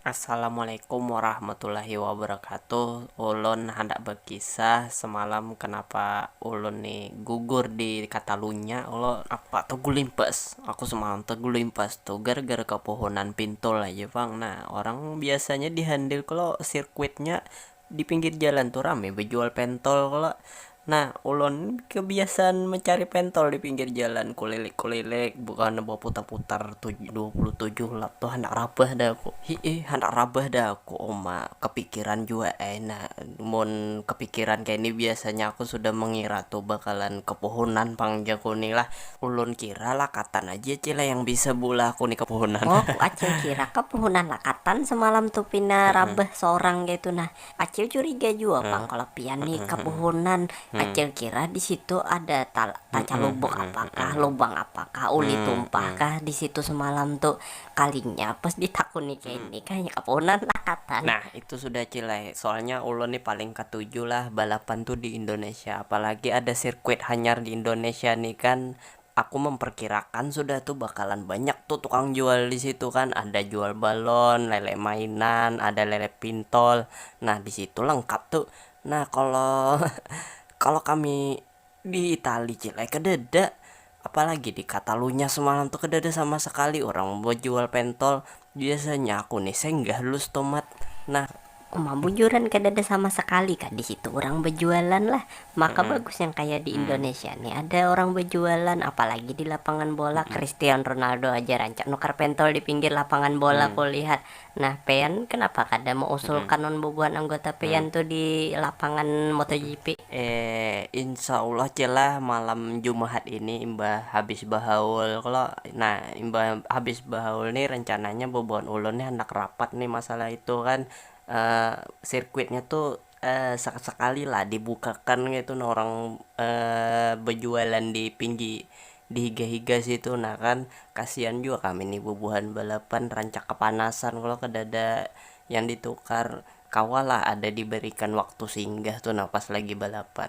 Assalamualaikum warahmatullahi wabarakatuh ulun handak bakisah semalam kenapa ulun ni gugur di katalunya kalo apa tagulimpas aku semalam tagulimpas tu gara gara kapohonan pintul aja pang nah orang biasanya di handle kalo sirkuitnya Di pinggir jalan tu rame bejual pentol kalo. Nah, ulun kebiasaan mencari pentol di pinggir jalan, kulilik-kulilik, bukannya beputar-putar dua puluh tujuh lap tu handak rabah dah aku. Hi'i, handak rabah dah aku, uma kepikiran jua ai nah. Mun kepikiran kaya ni biasanya aku sudah mengira tu bakalan ke pohonan pang jaku ni lah. Ulun kira lakatan aja cile yang bisa beulah kuni ke puhunan. Oh ku acil kira ke puhunan lakatan semalam tu pina rabah sorang kaitu nah. Acil curiga jua pang kalo pian ni ke puhunan. Acil kira di situ ada ta tacalubuk apakah, lubang apakah, uli tumpah kah di situ semalam tu. Kalinya pas ditakuni kini kayanya kapunan lah katan. Nah itu sudah cil ai, soalnya ulun ni paling katuju lah balapan tu di indonesia, apalagi ada sirkuit hanyar di indonesia ni kan, aku memperkirakan sudah tu bakalan banyak tu tukang jual disitu kan, ada jual balon, lele mainan, ada lele pintol, nah disitu lengkap tu, nah kalo kalo kami. Di Itali cil ai kadada, apalagi di Katalunya semalam tu kadada sama sakali urang bajual pentol, biasanya aku ni senggah lus tomat nah. Uma bujuran kadada sama sakali kah disitu urang bajualan lah, maka bagus yang kaya di Indonesia ni ada urang bajualan, apalagi di lapangan bola, Christian Ronaldo aja rancak nukar pentol di pinggir lapangan bola kulihat, Nah pean kenapa kada meusulkan non bubuhan anggota pean tu di lapangan motogp? Eh insyaallah ja lah malam jumahat ini imbah habis bahaul kalo nah imbah habis bahaul nih rencananya bubuhan ulun nih handak rapat nih masalah itu kan eh sirkuitnya tuh Sakali lah dibukakan kaitu nah orang bejualan di pinggi di higa higa situ nah kan kasian jua kami nih bubuhan balapan rancak kepanasan kalo kedada yang ditukar kawa lah ada diberikan waktu singgah tu nah pas lagi balapan.